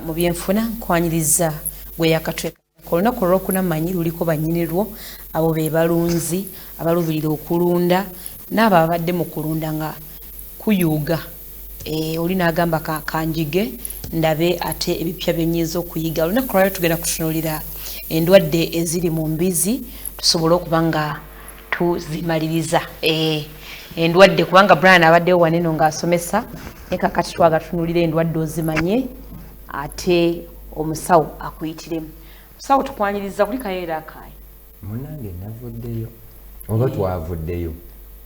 mu byenfuna nkwanyiriza gwe yakatweka Ku lunaku olwokuna mmanyi luliko bannyinirwo, abo be balunzi abaluubirira okulunda n'abo ababadde mu kulunda nga kuyuuga eh, oli n'agamba ka, kanjige ndabe ate ebipya bye nnyinza okuyiga. Olunaku lwalyo tugenda kutunuulira endwadde eziri mu mbizi tusobole okuba nga tuzimaliriza eh, endwadde kubanga Brian abaddewo waneno ng'asomesa naye kakati twagatunulira endwadde ozimanye ate omusawo akuyitiremu musawo tukwaniriza kuli kayeera akaye munange navuddeyo oba twavuddeyo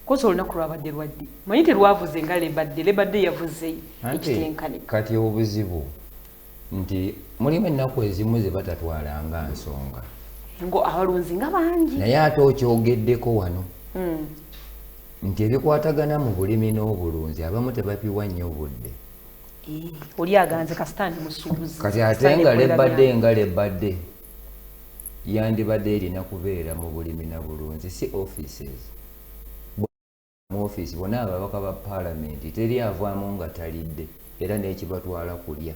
kosa olunaku lwabadde lwadde manyi terwavuze nga lebadde lebadde yavuze ekitenkanika kati obuzibu nti mulimu ennaku ezimu ze batatwala nga nsonga ngo abalunzi nga bangi naye ate okyogeddeko wano hmm. nti ebikwatagana mu bulimi n'obulunzi abamu tebapiwa nnyo obudde oli aganze kasita ndi musuubuzi kati ate nga lebadde nga lebadde yandibadde erina kubeera mu bulimi na bulunzi si offices mu office bona ababaka ba palamenti teri avaamu nga talidde era n'ekibatwala kulya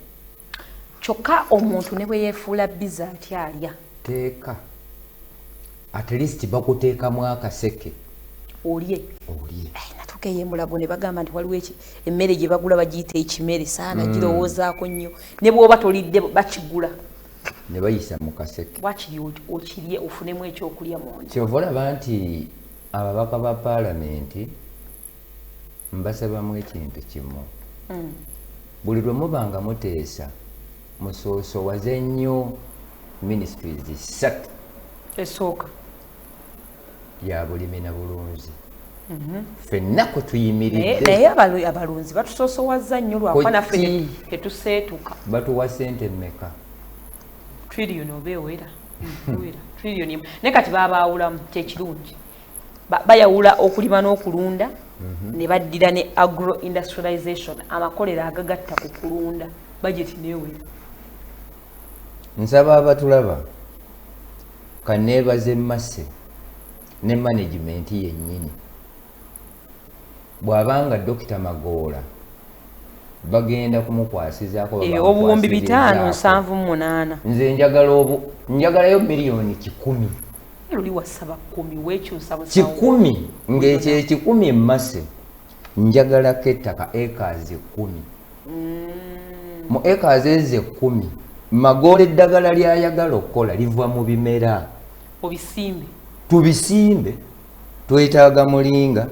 kyokka omuntu ne bwe yeefuula biza atyalya teeka at least bakuteekamu akaseke olye olye natuka eyo emulago ne bagamba nti waliwo eki emmere gye bagula bagiyita ekimere saana mm. girowoozaako nnyo ne bwoba tolidde bakigula ne bayisa mu kaseke wakiri okirye ofunemu ekyokulya munda kyova olaba nti ababaka ba paalamenti mbasabamu ekintu kimu mm. buli lwe muba nga muteesa musoosowaze nnyo ministries ssatu esooka ya bulimi na bulunzi mhm. fenna kwe tuyimiriddenaye abalunzi batusoosowaza nnyo lwakuba naffe tetuseetuka batuwa sente mmeka trillion oba ewera trillion naye kati babaawulamu kyekirungi bayawula okulima n'okulunda mhm. ne baddira ne agro industrialization amakolero agagatta ku kulunda bajeti neewera nsaba abatulaba kaneebaze masse ne management yennyini bw'aba nga Dokita Magoola bagenda kumukwasizaako eh, obuwumbi bitaano nsanvu mu munaana nze njagala obu njagalayo miliyoni kikumi luli wasaba kumi wekyusa kikumi ng'ekyo ekikumi emmase njagalako ettaka ekaazi ekkumi mm. mu ekaazi ezo ekkumi magoola eddagala lyayagala okukola liva mu bimera obisimbe tubisimbe twetaaga mulinga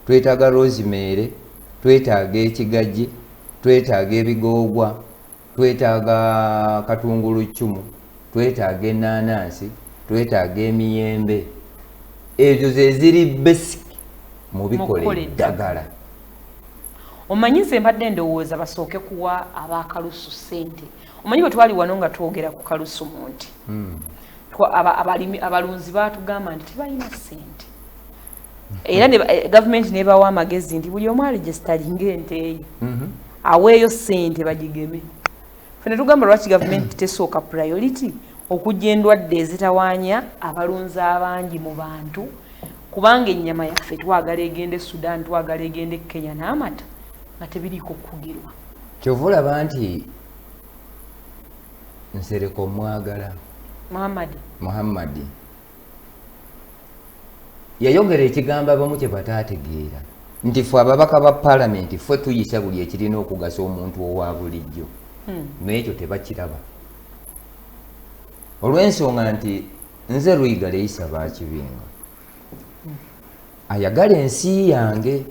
twetaaga rozimeere twetaaga ekigagi twetaaga ebigoogwa twetaaga katungulu ccumu twetaaga ennaanansi twetaaga emiyembe ezo zeziri basic mu bikola eddagala omanyi nze mbadde ndowooza basooke kuwa abakalusu ssente omanyi bwe twali wano nga twogera ku kalusumu nti hmm. abalimi abalunzi baatugamba nti tebalina ssente hmm. era eh, gavumenti nebawa amagezi nti buli omu aregisitalinga ente eyo hmm. aweeyo ssente bagigeme fe netugamba lwaki gavumenti tesooka priority okujja endwadde ezitawanya abalunzi abangi mu bantu kubanga ennyama yaffe twagala egenda e sudan twagala egenda e kenya n'amata nga tebiriiko kukugirwa kyova olaba nti nsereka omwagala muhammadi muhammadi yayogera ekigambo abamu kye bataategeera nti fe ababaka ba palamenti fe tuyisa buli ekirina okugasa omuntu owa bulijjo hmm. naye ekyo tebakiraba olw'ensonga nti nze luyiga leyisa bakibinga ayagala ensi yange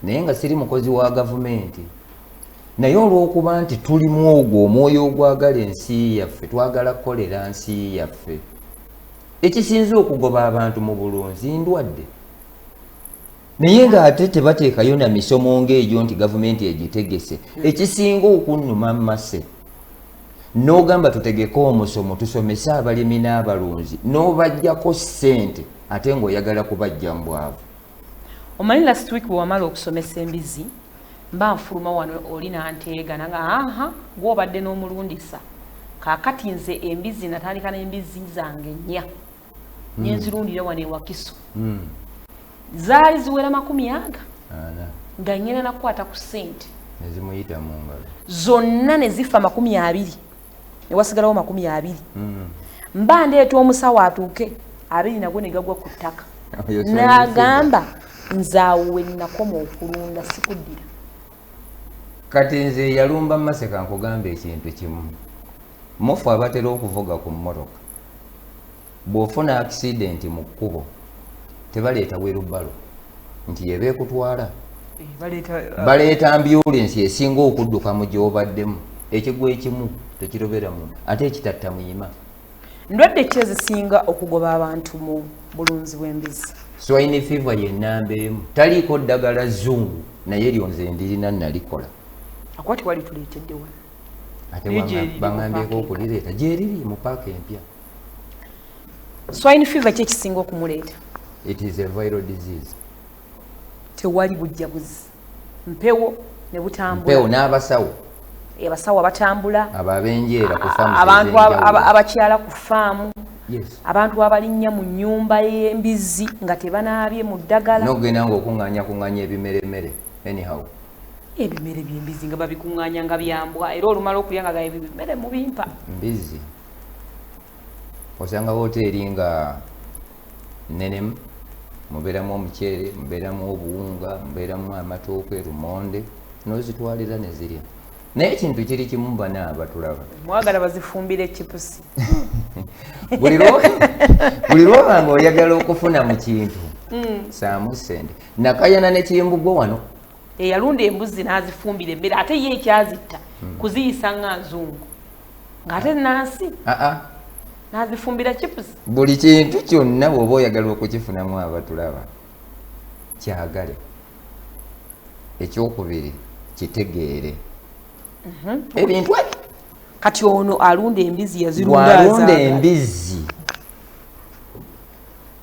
naye nga siri mukozi wa gavumenti naye olwokuba nti tulimu ogwo omwoyo ogwagala ensi yaffe twagala kukolera nsi yaffe ekisinze okugoba abantu mu bulunzi ndwadde naye ng'ate tebateekayo na misomo ng'egyo nti gavumenti egitegese ekisinga okunnuma mase n'ogamba tutegeke omusomo tusomese abalimi n'abalunzi n'obajjako ssente ate ng'oyagala kubajja mu bwavu omanyi last week bwe wamala okusomesa embizi mba nfuluma wano oli nanteega nanga aha gwobadde n'omulundisa kakati nze embizi natandika n'embizi zange nnya hmm. nenzirundira wano ewakiso hmm. zaali ziwera makumi aga nga ngenda nakukwata ku sente nezimuyita mu ngalo zonna nezifa makumi abiri newasigalawo makumi abiri hmm. mba ndeeta omusawo atuuke abiri nagwo negagwa ku ttaka nagamba nzaawo wenakoma okulunda sikuddira kati nze yalumba maseka nkugamba ekintu kimu mufu abatera okuvuga ku mmotoka bw'ofuna akisidenti mu kkubo tebaleeta werubalo nti yeba ekutwala eh, uh, baleeta ambulensi esinga okudduka mu gyobaddemu ekigwa ekimu tekirobera muntu ate ekitatta muyima Ndwadde ki ezisinga okugoba abantu mu bulunzi bw'embizzi? Swine fever ye nnamba emu. Taliiko ddagala zzungu naye eryo nze ndirina nalikola. Akwati wali tuleetedde wano. Ate bangambyeeko okulireeta gyeriri mu paaka empya. Swine fever ki ekisinga okumuleeta? It is a viral disease. Tewali bujjabuzi. mpewo ne butambula mpewo n'abasawo abasawo abatambula ababenjeera ku faamu abantu abakyala ku faamu abantu abalinnya mu nnyumba y'embizzi nga tebanaabye mu ddagala nogenda nga okuŋŋanya kuŋŋanya ebimeremere anyhow ebimere by'embizzi nga babikuŋŋanya nga byambwa era olumala okulya nga gaye bimere mu bimpa mbizzi osanga wooteeri nga nenemu mubeeramu omuceere mubeeramu obuwunga mubeeramu amatooke lumonde nozitwalira nezirya naye ekintu kiri kimu bana abatulaba mwagala bazifumbira ekipusi buli lwoba nga oyagala okufuna mu kintu hmm. saamu sente nakayana nekimbugwa wano eyalunda embuzi n'azifumbira emmere ate ye ekyazitta hmm. kuziyisa nga nzungu ng'ate nansi ah, ah. n'azifumbira chipusi buli kintu kyonna bw'oba oyagala okukifunamu abatulaba kyagale ekyokubiri kitegeere mhm. ebintu ebyo kati ono alunda embizi yazirundaalunda embizi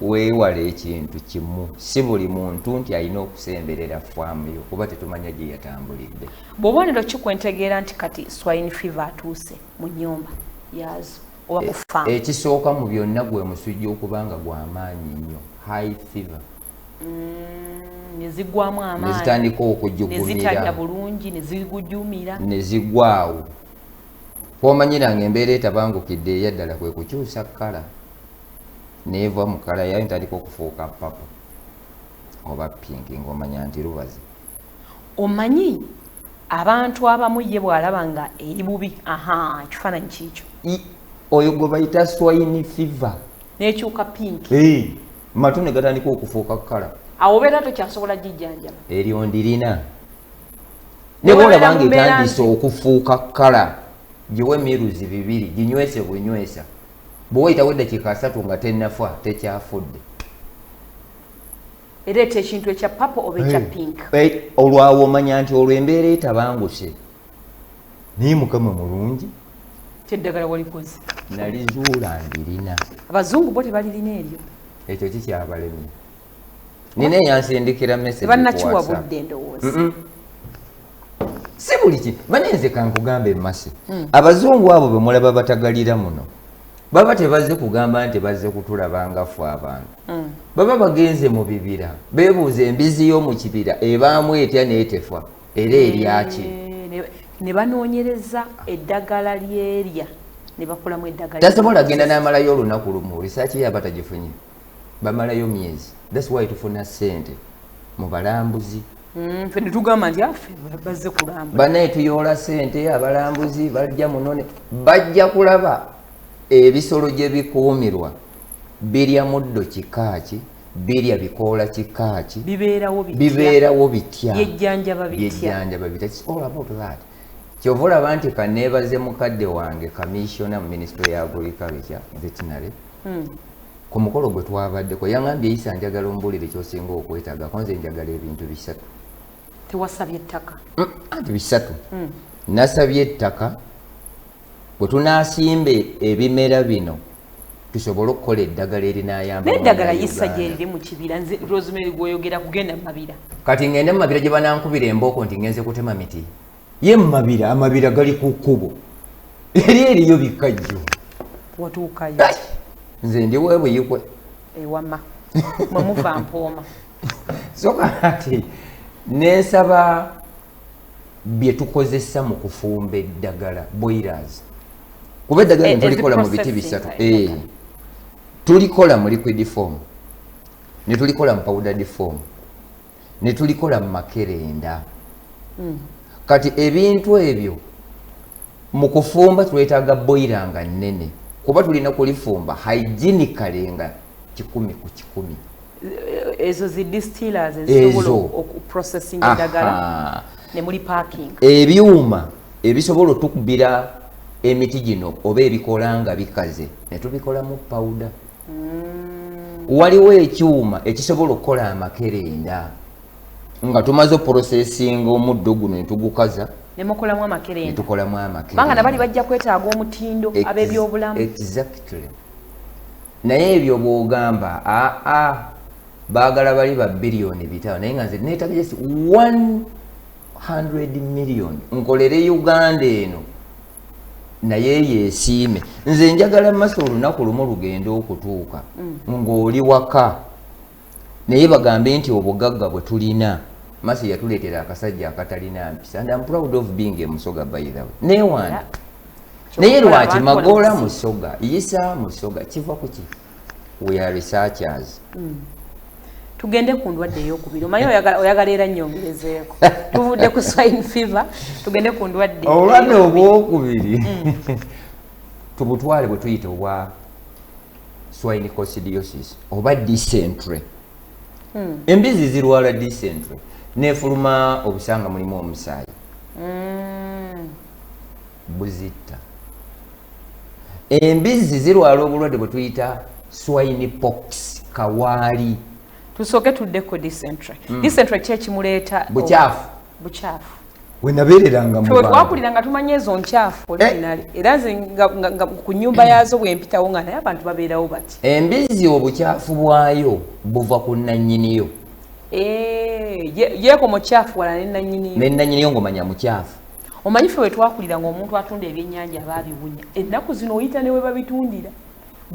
weewale ekintu kimu si buli muntu nti alina okusemberera faamu yo kuba tetumanya gye yatambulidde bwobonero ki kwentegeera nti kati swine fever atuuse mu nyumba yaazo oba ku faamu e, ekisooka mu byonna gwe musujja okuba nga gwamaanyi nnyo high fever mm, nezigwamu amaanyi nezitandika okujugumira bulungi nezigujumira nezigwaawo kwomanyira nga embeera etabangukidde eyaddala kwe kukyusa kkala neeva mu kala yayo ntandika okufuuka papa oba pinki ngaomanya nti lubazi omanyi abantu abamu ye bwalaba nga eri bubi aha ekifaananyi kiikyo oyo gwe bayita swine fever nekyuka pinki hey, matu ne gatandika okufuuka kukala awo obeera tokyasobola gijjanjaba eryo ndirina ne bwolabanga etandise okufuuka kukala giwe emiruzi bibiri ginywese bwenywesa bwe wayitawo eddakiika asatu nga tennafa tekyafudde ereeta ekintu ekya papa oba ekya pink olwawo omanya nti olwo embeera etabanguse naye mukama mulungi kyeddagala walikoze nalizuula ndirina abazungu bo tebalirina eryo ekyo kikyabalemi nina eyansindikira mesebanakiwabudde ndowooza si buli ki manye nze kankugambe masi hmm. abazungu abo bemulaba batagalira muno baba tebazze kugamba nti bazze kutulaba nga ffe abantu hmm. baba bagenze mu bibira bebuuza embizi y'omu kibira ebaamu etya neetefa era eryaki eh, ne banoonyereza eddagala lyerya ne bakolamu eddagala tasobola genda n'amalayo olunaku lumu risaaki yaba tagifunye bamalayo myezi thats why tufuna sente mu balambuzi mm, fe netugamba nti afe ah, bazze kulamba banaye tuyoola sente abalambuzi bajja munone bajja kulaba ebisolo gye bikuumirwa birya muddo kikaaki birya bikoola kikaaki bibeerawo bitya byejjanjaba bitya kyova olaba nti kaneebaze mukadde wange kamissiona mu minisitule ya agriculture veterinary hmm. ku mukolo gwe twabaddeko yaŋambye yisa njagala ombuulire kyosinga okwetaaga ko nze njagala ebintu bisatu tewasabye ettaka mm, anti bisatu mm. nasabye ettaka bwe tunaasimba ebimera bino tusobole okukola eddagala erinayambaeddagala yisa gyeriri mu kibira nze rosemary gwoyogera kugenda mumabira kati ngende mumabira gye banankubira embooko nti ngenze kutema miti ye mumabira amabira gali ku kkubo eri eriyo bikkajjo watuukayo nze ndi webuyikwe ewama mwemuva mpooma soka ati nensaba bye tukozesa mu kufumba eddagala boilers kuba eddagala eh, tulikola mu biti bisatu eh. tulikola mu liquid form ne tulikola mu powdered form ne tulikola mu makerenda hmm. kati ebintu ebyo mu kufumba twetaaga boyira nga nnene kuba tulina kulifumba hygienicale nga kikumi ku kikumi eh, ezo zi distillers ezisobola okuprocessing eddagala ne muli parking ebyuma ebisobola otukubira emiti gino oba ebikola nga bikaze ne tubikolamu pawuda mm. waliwo ekyuma ekisobola okukola amakerenda nga tumaze oprosesinga omuddo guno netugukaza nemukolamu amakerendatukolamu amakerendabanga nabali bajja kwetaaga omutindo abebyobulamu exactly naye ebyo bwogamba aa bagala bali ba biliyoni bitawo naye nga nze netaga just 100 million nkolere uganda eno naye yesiime nze njagala maso olunaku lumu lugenda okutuuka mm. ng'oli waka naye bagambe nti obugagga bwe tulina maso yatuleetera akasajja akatalina mpisa and am proud of being a musoga by the way newange naye lwaki magoola musoga yisa musoga kiva ku ki we are researchers mm. tugende ku ndwadde eyokubiri omaye oyagala era nyongerezeeko tuvudde ku swine fever tugende ku ndwadde obulwadde obwokubiri mm. tubutwale bwe tuyita obwa swine coccidiosis oba dysentery mm. embizi zirwala dysentery nefuluma obusanga mulimu omusaayi mm. mbu zitta embizzi zirwala obulwadde bwe tuyita swine pox kawaali tusooke tuddeko disentre hmm. disentre ki ekimuleeta bukyafu bukyafu wenabeereranga mutwakulira nga tumanya ezo nkyafu olinali eh. era nze nga ku nyumba yaazo bwempitawo nga naye abantu babeerawo bati embizzi obukyafu bwayo buva ku nanyiniyo eh, yeeko mukyafu wala nenanyiniyo nenanyiniyo ngaomanya mukyafu omanyi ffe wetwakulira nga omuntu atunda ebyenyanja aba abiwunya ennaku zino oyita ne webabitundira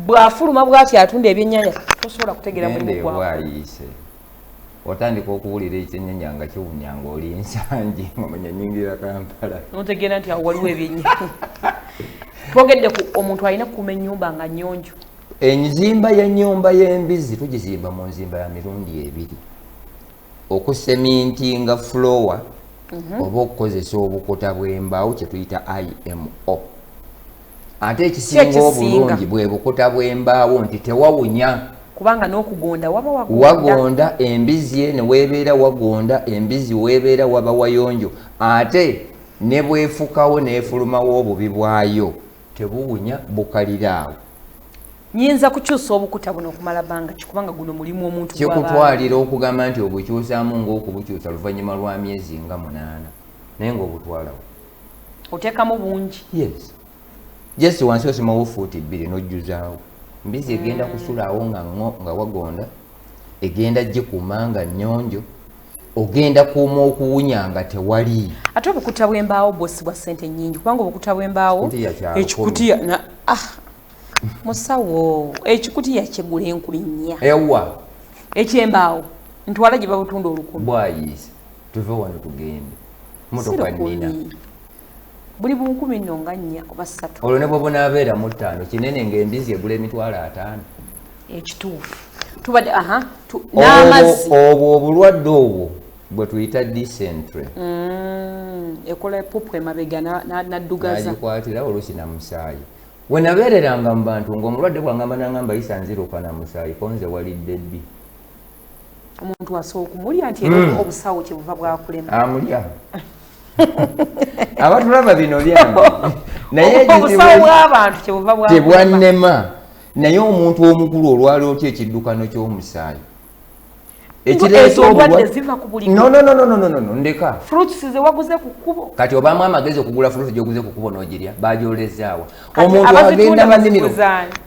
bwafuluma bwati atunda ebyenyanja tosobola kutegera mulimu gwabwayise otandika okuwulira ekyenyanya nga kiwunya nga oli ensangi omanya nyingira kampala notegeera nti awo waliwo ebyenyanja twogedde ku omuntu alina kukuma enyumba nga nyonjo enzimba yenyumba yembizi tugizimba mu nzimba ya mirundi ebiri okusemintinga fulowa mhm. oba okukozesa obukuta bw'embaawo kye tuyita imo ate ekisinga obulungi bwe bukuta bw'embaawo nti tewawunya kubanga n'okugonda waba wagonda embizzi ye ne weebeera wagonda embizzi weebeera waba wayonjo ate ne bwefukawo n'efulumawo obubi bwayo tebuwunya bukalira awo nyinza kukyusa obukuta buno okumala banga kikubanga guno mulimu omuntu kikutwalira okugamba nti obukyusamu ngaokubukyusa luvanyuma lwa myezi nga munaana naye ngaobutwalawo otekamu bungi yes just wansi osimawo fuuti bbiri nojjuzaawo mbizi egenda mm. kusulaawo nga wagonda egenda gikuuma nga nyonjo ogenda kuuma okuwunya nga tewali ate obukuta bwembaawo bwosi bwa sente nyingi kubanga obukuta bwembaawo ekikutiya ah, musawo ekikutiya kyegula enkuli nnya ewa ekyembaawo ntwala gye babutunda olukumi bwayiisa tuve wano tugende motoka nina buli bunkumi nno nga nnya oba ssatu olwo ne bwobunaabeera mu ttaano kinene ng'embizi egula emitwalo ataano ekituufu tubadde aha n'amazzi obwo obulwadde obwo bwe tuyita disentre mm, ekola epupu emabega naddugazagikwatira oluusi na musaayi we nabeereranga mu bantu ng'omulwadde bwangamba nangamba yisa nziruka na musaayi konze walidde bbi omuntu asooka okumulya nti era hmm. obusawo kyebuva bwakulema amulya abatulaba bino byange naye obusawo bw'abantu kyebuva bwatebwannema naye omuntu omukulu olwali otya ekiddukano ky'omusaayi kati obamu amagezi okugula fruit gyoguze kukubo nogirya bagyolezaawa omuntu agenda munimiro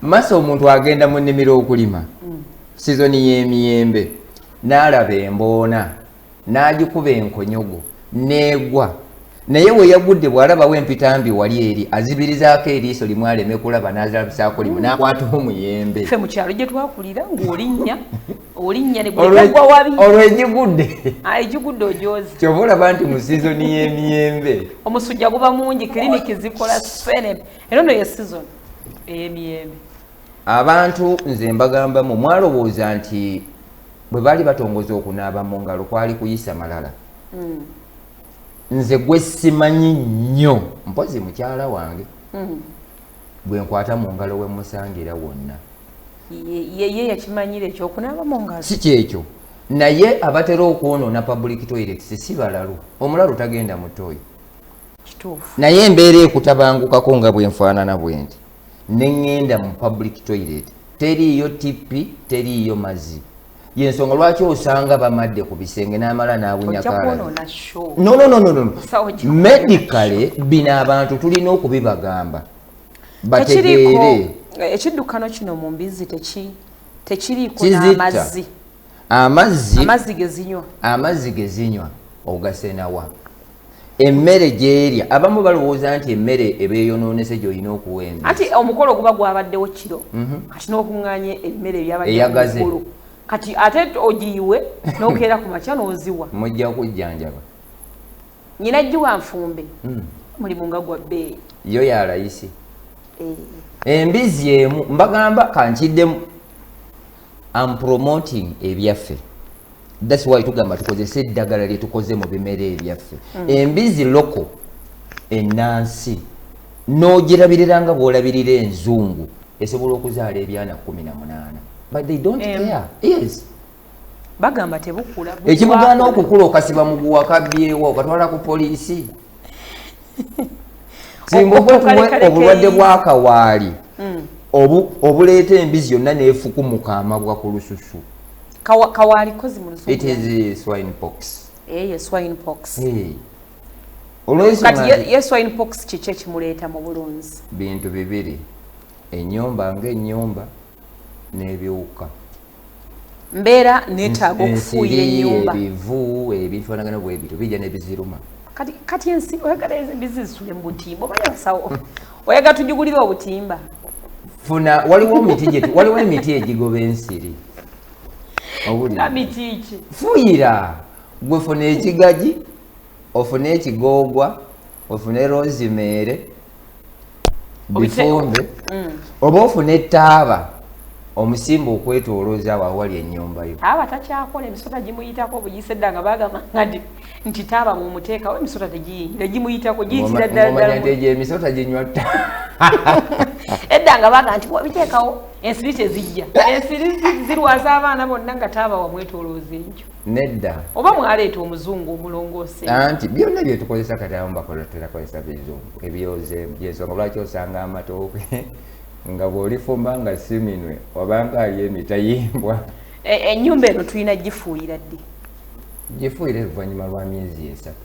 masa omuntu agenda munimiro okulima sizoni y'emiyembe n'alaba emboona n'agikuba enkonyogo n'egwa naye we yagudde bw'alabawo empitambi wali eri azibirizaako eriiso limu aleme kulaba n'azalabisaako limu n'akwataho muyembe fe mu kyalo gye twakulira ng'olinnya olinnya negwagwa wabi olwo egigudde ah, egigudde ojoozi kyova olaba nti mu sizoni y'emiyembe omusujja guba mungi kiriniki zikola sene era no ye sizoni ey'emiyembe abantu nze mbagambamu mwalowooza nti bwe baali batongoza okunaaba mu ngalo kwali kuyisa malala mm. nze gwe simanyi nnyo mpozi mukyala wange mm. gwe nkwata mu ngalo we musangira wonna yeye yakimanyira ekyokunaaba mu ngalo si kyekyo naye abatera okwonoona public toilet sisi balalu omulalu tagenda mutoyi naye embeera ekutabangukako nga bwenfaanana bwendi neŋŋenda mu public toilet teriiyo tippi teriiyo mazzi yensonga lwaki osanga bamadde ku bisenge n'amala n'awunyakanomedicale bino abantu tulina okubibagamba bategeere ekiddukano kino mu mbizzi tekiriiko n'amazzi amazzi amazzi gezinywa amazzi gezinywa ogasenawa emmere gyerya abamu balowooza nti emmere eba eyonoonese gyolina okuwa embi anti omukolo guba gwabaddewo kiro mhm. kati n'okuŋŋanya emmere ebyabaddeomukolo kati ate ogiyiwe n'okeera ku makya n'oziwa mujja kujjanjaba nyina jjiwa nfumbe hmm. mulimu nga gwa bbeeyi yo yalayisi eh. embizzi emu mbagamba kankiddemu am promoting ebyaffe that's why tugamba tukozese eddagala lyetukoze mu bimera ebyaffe mm. embizi loko enansi nogirabirira nga bwolabirira enzungu esobola okuzaala ebyana kumi na munaana but they don't um, care yes bagamba tebukula ekimugaana okukula okasiba muguwa kabyewo okatwala ku poliisi singa oba obulwadde bwakawaali hmm. obuleeta embizi yonna nefukumuka amabwa ku lususu olwensonga bintu bibiri enyumba nga enyumba n'ebiwuka mbeera neetaaga okufuuyira ennyumba ebivu ebinfanagana bwe bityo bijja ne biziruma kati kati ensi oyagala embizi zisule mu butimba oba yasawo oyagala tujugulire obutimba funa waliwo emiti gyetu waliwo emiti egigoba ensiri owulimiti ki fuyira gwe funa ekigagi ofune ekigoogwa ofune rozimeere bifumbe mm. oba ofune etaaba omusimba okwetolooza awo awali ennyumba yo aba takyakola emisota gimuyitako obuyise dda nga bagamba ngadi nti taaba mumuteekawo emisota tegiyingira gimuyitako giyitira ddaladdalaegyo emisota ginywa ta edda nga baga nti biteekawo ensiri tezijja ensiri zirwaza abaana bonna nga taaba wamwetolooza enkyo nedda oba mwaleeta omuzungu omulongoose anti byonna byetukozesa kati abamu bakola terakozesa bizungu ebyoze byensonga lwaki osanga amatooke nga bwolifumba nga siminwe obanga ali emitayimbwa e, enyumba eno tulina gifuuyira ddi gifuuyira evanyuma lwa myezi esatu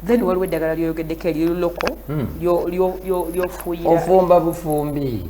then waliwo eddagala lyoyogeddeko eriruloko hmm. lyofuuyira ofumba bufumbi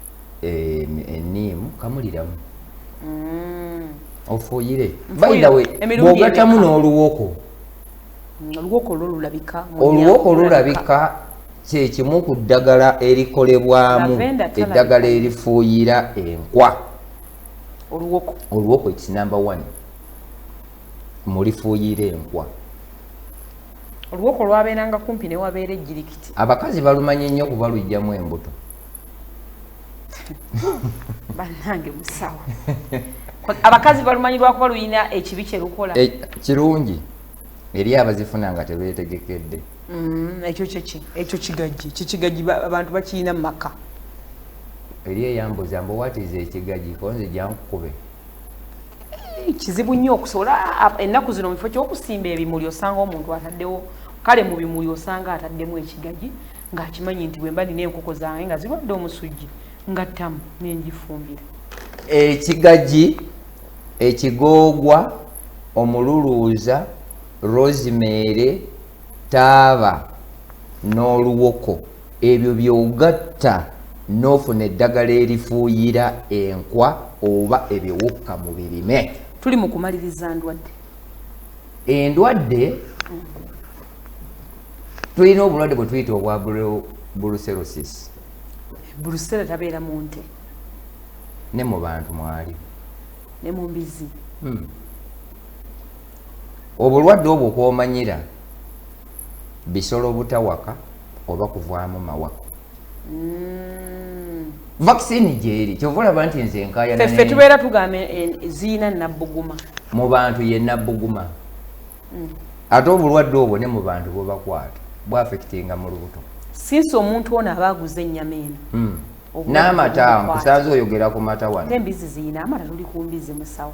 eniimu eh, kamuliramu mm. ofuuyire bayidawe bwogatamu n'oluwoko mm, oluwoko olwo lulabika oluwoko olulabika kyekimu ku ddagala erikolebwamu eddagala erifuuyira enkwa oluwoko oluwoko its number one mulifuuyira enkwa oluwoko lwabeeranga kumpi newabeera ejjirikiti abakazi balumanya ennyo kuba lujjamu embuto banange musawo abakazi balumanyi lwakuba luyina ekibi kyelukola eh, kirungi eri abazifuna nga tebetegekedde mm, ekyo kyeki ekyo kigagi kikigagi abantu bakiyina mumaka eri eyambuza mbu watiza ekigagi konze jankukube eh, kizibu nnyo okusobola ennaku zino mukifo kyokusimba ebimuli osanga omuntu ataddewo kale mu bimuli osanga ataddemu ekigagi ng'akimanyi nti bwemba nina enkoko zange nga zirwadde omusujja nga ttamu nenjifumbira ekigagi ekigoogwa omululuuza rosemary taaba n'oluwoko ebyo byogatta n'ofuna eddagala erifuuyira enkwa oba ebiwukka mu birime tuli mu kumaliriza ndwadde endwadde tulina obulwadde bwe tuyita obwa brucellosis brusela tabeera mu nte ne mu bantu mwali ne mu mbizi hmm. obulwadde obwo kwomanyira bisolo butawaka oba kuvaamu mawa mm. vaccine gyeri kyova olaba nti nze enkayanaffe tubeera tugamba ziina nabbuguma mu bantu ye nabbuguma mm. ate obulwadde obwo ne mu bantu bwebakwata bwafekitinga mu lubuto sinsi omuntu ono aba aguze ennyama eno mm. n'amata nkusanze oyogera ku mata wano embizi ziyina amata tuli ku mbizi musawo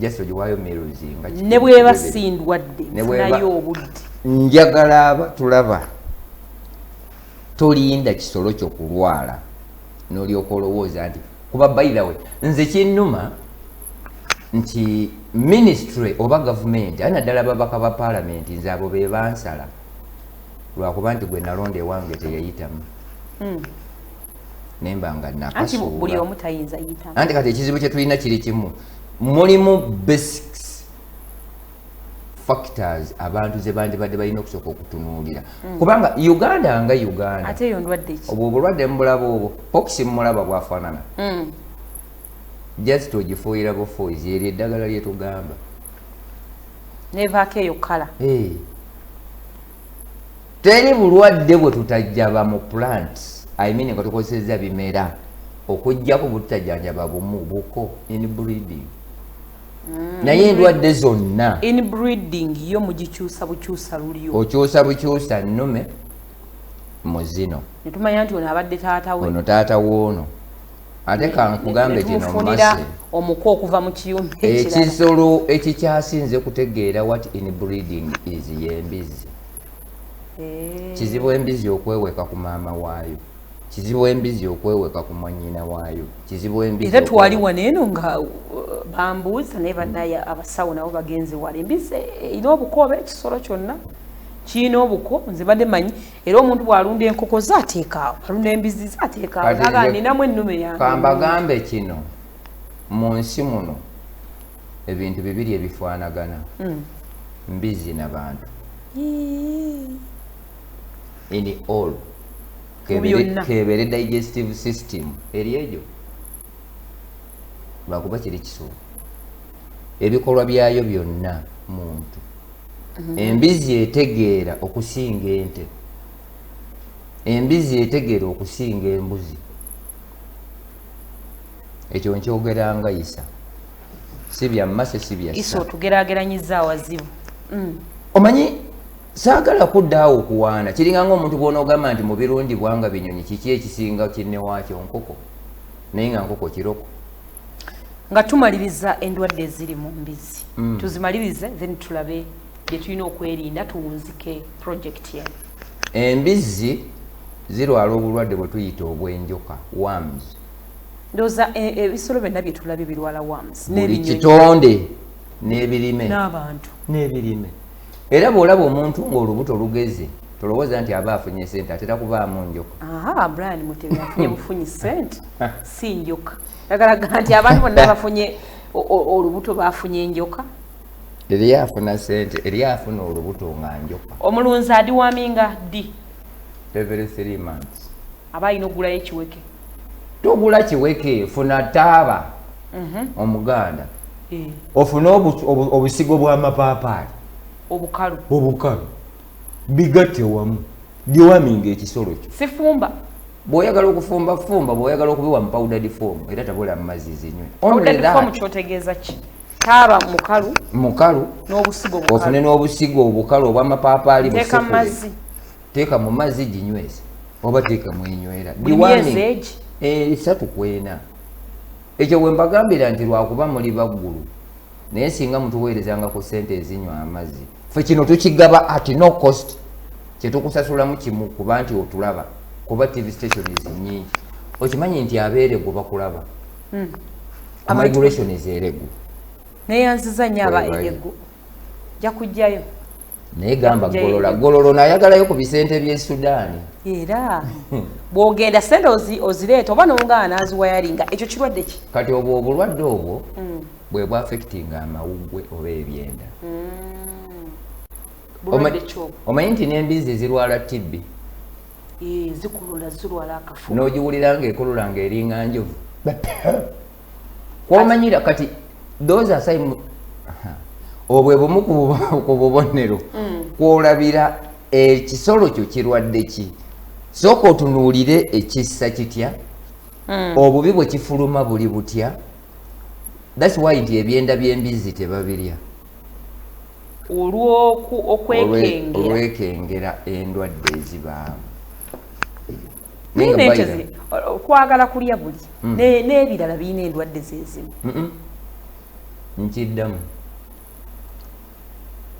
just ogiwaayo meruzi nga ne bweba sindwadde nayo obudde njagala aba tulaba tolinda kisolo kyo kulwala nolyoka olowooza nti kuba bayilawe nze kinnuma nti ministry oba gavumenti ali naddala babaka ba palamenti nze abo be bansala lwakuba nti gwe nalonda ewange teyayitamu hmm. nemba nga nakasuulanti kati ekizibu kyetulina kiri kimu mulimu basics factors abantu zebandibadde balina okusooka okutunuulira hmm. kubanga uganda nga uganda obwo obulwadde mubulaba obwo pokisi mumulaba bwafaanana hmm. just ogifuuyira bufuuzi eryo eddagala lyetugamba nevaako eyo kala eh. teri bulwadde bwe tutajjaba mu plant i mean nga tukozesezza bimera okujjako bututajanjaba bumu buko in breeding mm. naye endwadde zonna in breeding yo mugikyusa bukyusa lulyo okyusa bukyusa nnume mu zino netumanya nti ono abadde taata we ono taata woono ate kankugambe gino mumase omuko okuva mu kiyumba ekisolo ekikyasinze kutegeera wat in breeding is yembizi eh. kizibu embizi okweweka ku maama waayo kizibu embizi okweweka ku mwanyina waayo kizibu embizi era twali wano eno nga uh, bambuuza naye banaye abasawo nabo bagenze wala embizi erina obuko oba ekisolo kyonna kirina obuko nze badde manyi era omuntu bw'alunda enkoko ze ateekaawo alunda embizzi ze ateekaawo aga ninamu ennume yange kambagambe kino mu nsi muno ebintu bibiri ebifaanagana hmm. mbizzi na bantu in all kebeere digestive system eri egyo lwakuba kiri kisuubu ebikolwa byayo byonna muntu mhm. embizzi etegeera okusinga ente embizzi etegeera okusinga embuzi ekyo nkyogeranga isa si byammase si byasa otugerageranyiza awazibu mm. omanyi saagala kuddaawo okuwaana kiringa ngaomuntu bwonaogamba nti mu birungi bwanga binyonyi kiki ekisinga kinnewaakyo nkoko naye nga nkoko kiroko nga tumaliriza endwadde eziri mu mbizzi mm. tuzimalirize then tulabe bye tulina okwerinda tuwunzike projekiti eno embizzi zirwala obulwadde bwe tuyita obw'enjoka worms ndoza e, e, ebisolo byonna bye tulabye birwala worms buli kitonde n'ebirime n'abantu n'ebirime era bw'olaba omuntu ng'olubuto lugeze tolowooza nti aba afunye sente atera kubaamu njoka brian mutebi afunye bufunyi sente si njoka agalaga nti abantu bonna bafunye olubuto bafunye enjoka eri afuna sente eri afuna olubuto nga njoka omulunzi adiwaminga ddi every three months aba alina okugulayo ekiweke togula kiweke funa taaba mhm. omuganda eh. ofune obusigo bwamapaapaali obukalu obukalu bigatte wamu diwaminga ekisolo kyo sifumba bwoyagala okufumba fumba bwoyagala okubiwa mupawudadi fomu era tabula mumazzi zinywe kyotegeeza ki taaba mukalu mukalu ofune n'obusigo obukalu obwamapaapaali busekule teeka mu mazzi ginyweze oba teeka mwenywera esatu eh, kwena ekyo wembagambira nti lwakuba muli baggulu naye singa mutuweerezanga ku sente ezinywa amazzi fe kino tukigaba at no cost kyetukusasulamu kimu kuba nti otulaba kuba tv stations nyingi okimanyi nti abeerego bakulaba hmm. amigration ezeeregu neyanziza nyo aba eregu ja kujjayo naye gamba golola gololo nayagalayo ku bisente bye sudaani era bwogenda sente ozireeta oba nongaana aziwayalinga ekyo kirwadde ki kati obwo obulwadde obwo mm. bwe bwafectinga amawuggwe oba ebyenda mm. omanyi nti n'embizzi zirwala tibbi zikulula zirwala akafu n'ogiwulira ng'ekulula ng'eringa njovu kwomanyira kati those are sign obwe bumu ku bubonero mm. kwolabira ekisolo kyo kirwadde ki sooka otunuulire ekissa kitya mm. obubi bwe kifuluma buli butya thats why nti ebyenda by'embizzi tebabirya olwokwekengera endwadde ezibaamu naye nente ziri kwagala kulya buli mm. n'ebirala birina endwadde zezimu nkiddamu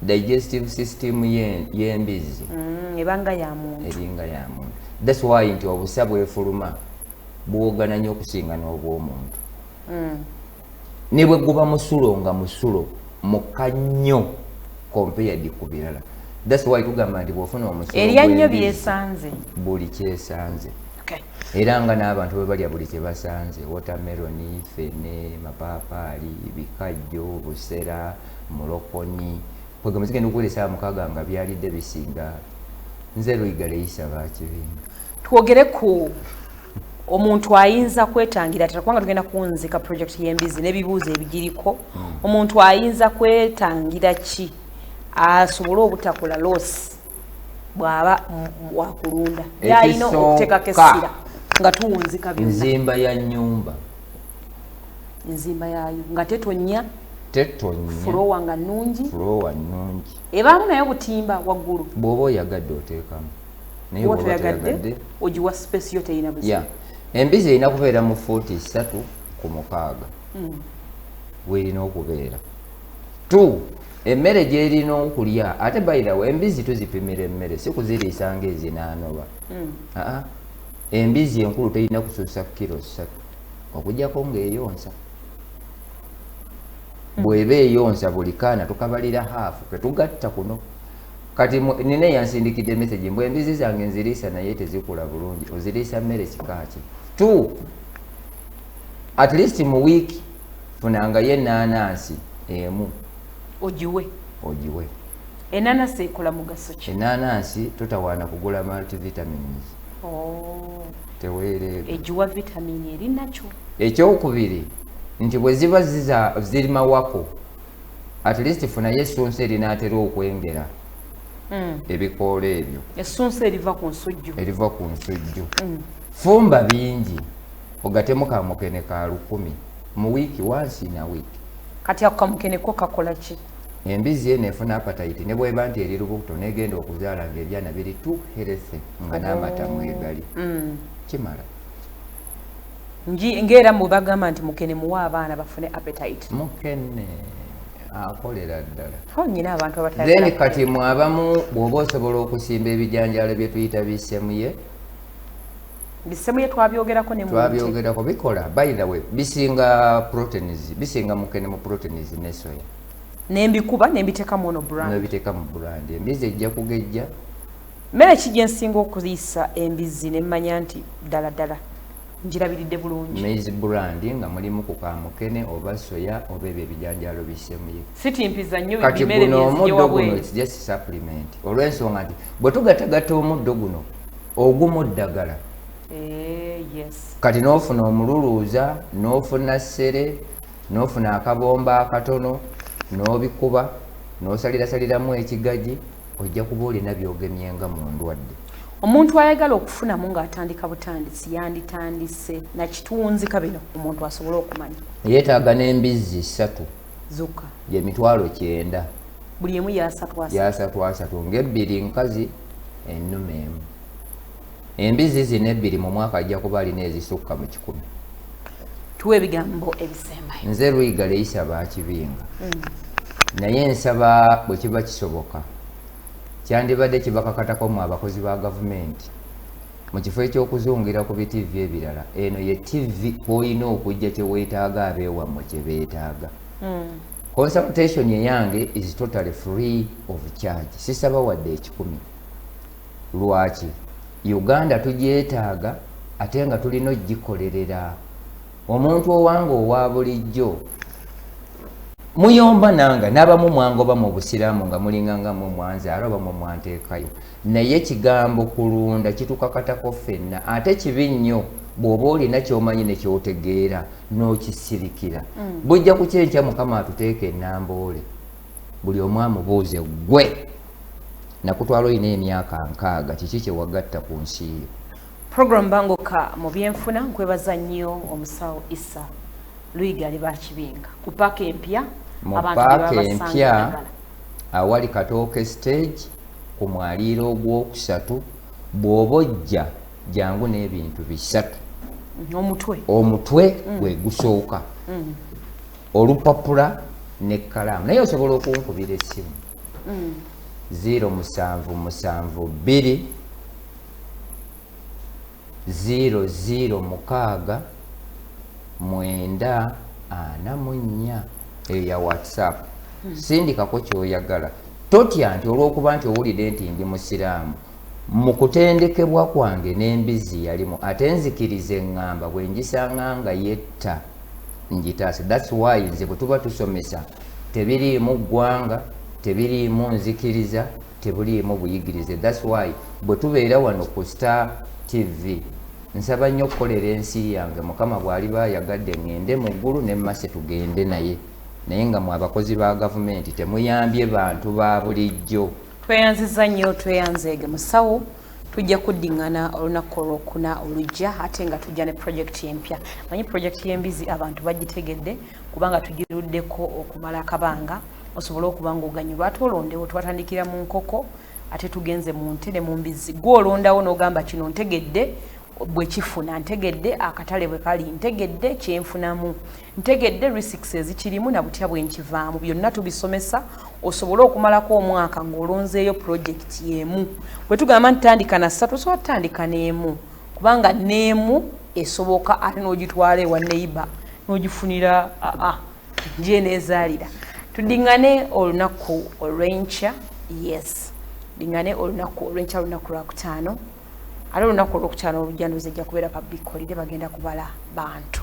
digestive system y'embizzi mm, ebanga yamuntu eringa yamuntu thats why nti obusa bwefuluma buwogana nnyo okusinga n'obwomuntu mm. ne bwe guba musulo nga musulo mukka nnyo compared ku birala that's why tugamba nti bwofuna omusulo erya nnyo byesanze buli kyesanze era nga n'abantu bwe balya buli kye basanze wotameroni fene mapaapaali bikajjo busera mulokonyi kwegamba zigenda okukozesa mukaaga nga byalidde bisinga nze luyigale yisaba kibinga twogere ku omuntu ayinza kwetangira atera kubanga tugenda kunzika project y'embizi n'ebibuuzo ebigiriko hmm. omuntu ayinza kwetangira ki asobole obutakola loosi bw'aba wakulunda yalina okuteekako essira nga tuwunzika nzimba ya nyumba enzimba yaayo nga tetonya tetonya fulowa nga nnungi fulowa nnungi ebaamu nayo butimba waggulu bw'oba oyagadde oteekamu nayeoyagadde ogiwa space yo teyina buzibu yeah. embizi erina kubeera mu fuuti ssatu ku mukaaga mm. werina okubeera t emmere gyerina okulya ate bayirawo embizi tuzipimira emmere si kuziriisa nga ezinaanoba mm. aa embizi enkulu terina kusuusa kiro ssatu okujjako ngaeyonsa bweba eyonsa buli kaana tukabalira haafu tetugatta kuno kati nina eyansindikidde message mbu embizi zange nziriisa naye tezikula bulungi oziriisa mmere kikaaki t at least mu week funangayo enanansi emu ogiwe ogiwe enanasi ekola mugaso ki enanasi totawaana kugula multivitamins oh. teweereega egiwa vitamin eri nakyo ekyokubiri nti bwe ziba ziri mawako at least funayo essunsa erinaatera okwengera mm. ebikoola ebyo essunsa eriva ku nsujju eriva ku nsujju mm. fumba bingi ogatemu kamukene ka lukumi mu wiiki wansi na wiiki kati ako kamukene ko kakola ki embizzi eno efuna apatayiti ne bweba nti eri lubuto negenda okuzaala nga ebyana biri tu herese nga n'amata mwegali mm. kimala nji ngera mu bagamba nti mukene muwa abaana bafune appetite mukene akolera ddala ho nyina abantu abatali then kati mu abamu bwoba osobola okusimba ebijanjalo bye tuyita bisemuye bisemuye twabyogerako ne twabyogerako bikola by the way bisinga proteins bisinga mukene mu proteins ne soya nembikuba nembiteka mu ono brand nembiteka mu brand embizi ejja kugejja Mmere ki gye nsinga okuliisa embizzi ne mmanya nti ddala ddala ngirabiridde bulungi? Maize brand nga mulimu ku kamukene oba soya oba ebyo ebijanjaalo bisemuye. Sitimpiza nnyo bimere byenziye wabweru. Kati guno omuddo guno it's just supplement olw'ensonga nti bwe tugatagatta omuddo guno ogumu ddagala Eh, kati n'ofuna omululuuza n'ofuna ssere n'ofuna akabomba akatono n'obikuba n'osalirasaliramu ekigagi ojja kuba olina byogemye nga mu ndwadde omuntu ayagala okufunamu ng'atandika butandisi yanditandise nakitunzi kabino omuntu asobole okumanya yeetaaga n'embizzi ssatu zokka ye mitwalo kyenda buli emu yasatwasatu ng'ebbiri nkazi ennume emu Embizzi zino ebbiri mu mwaka ajja kuba alina ezisukka mu kikumi. Tuwa ebigambo ebisembayo. Nze Luyiga Leyisa Baakibinga. Mm. Naye nsaba bwe kiba kisoboka kyandibadde kibakakatako mu abakozi ba gavumenti mu kifo eky'okuzungira ku bitivi ebirala eno ye tivi kwolina okujja kye weetaaga abeewammwe kye beetaaga. Mm. Consultation eyange is totally free of charge. Sisaba wadde ekikumi. lwaki Uganda tugyetaaga ate nga tulina okugikolerera omuntu owange owa bulijjo muyomba nanga n'abamu mwangoba mu busiraamu nga mulinga nga mwe mwanzaala oba mwe mwanteekayo naye ekigambo kulunda kitukakatako ffenna ate kibi nnyo bw'oba olina kyomanyi ne kyotegeera n'okisirikira mm. bujja ku kyenkya mukama atuteeka enamboole buli omu amubuuze gwe nakutwala olina emyaka nkaaga kiki kyewagatta ku nsi yo program bangoka mu byenfuna nkwebaza nnyo omusawo isa luyiga ali bakibinga ku paaka empya mu paaka empya awali katooke stage ku mwaliiro ogwokusatu bw'oba ojja jangu n'ebintu bisatu omutwe omutwe mm. gwe gusooka mm. olupapula nekkalaamu naye osobola okunkubira essimu mm. ziro musanvu musanvu bbiri ziro ziro mukaaga mwenda ana mu nnya eyo ya whatsapp mm. sindikako kyoyagala totya nti olwokuba nti owulidde nti ndi musiraamu Mu kutendekebwa kwange n'embizzi yalimu ate nzikiriza engamba bwe ngisanga nga yetta ngitaase that's why nze bwe tuba tusomesa tebiriimu ggwanga tebiriimu nzikiriza tebuliimu buyigirize that's why bwe tubeera wano ku star tv nsaba nnyo okukolera ensi yange mukama bw'aliba ayagadde ŋŋende mu ggulu ne mmase tugende naye naye nga mwe abakozi ba gavumenti temuyambye bantu ba bulijjo tweyanziza nnyo tweyanzeege musawo tujja kuddingana olunaku olwokuna olujja ate nga tujja ne projekiti empya manyi projekiti y'embizi abantu bagitegedde kubanga tugiruddeko okumala akabanga osobole okuba ngaoganyulwa ate olondewo twatandikira mu nkoko ate tugenze mu nte ne mu mbizi gwe olondawo n'ogamba kino ntegedde bwekifuna ntegedde akatale bwe kali ntegedde kyenfunamu ntegedde risks ezikirimu na butya bwe nkivaamu byonna tubisomesa osobole okumalako omwaka ng'olonzeeyo pulojekiti y'emu bwe tugamba nti tandika na ssatu osobola tutandika n'emu kubanga n'emu esoboka ate n'ogitwala ewa neiba n'ogifunira aa gyeneezaalira tuddiŋŋane olunaku olw'enkya yes ddiŋŋane olunaku olw'enkya lunaku lwakutaano ate olunaku olwokutaano olujjanduzi ejja kubeera public holiday bagenda kubala bantu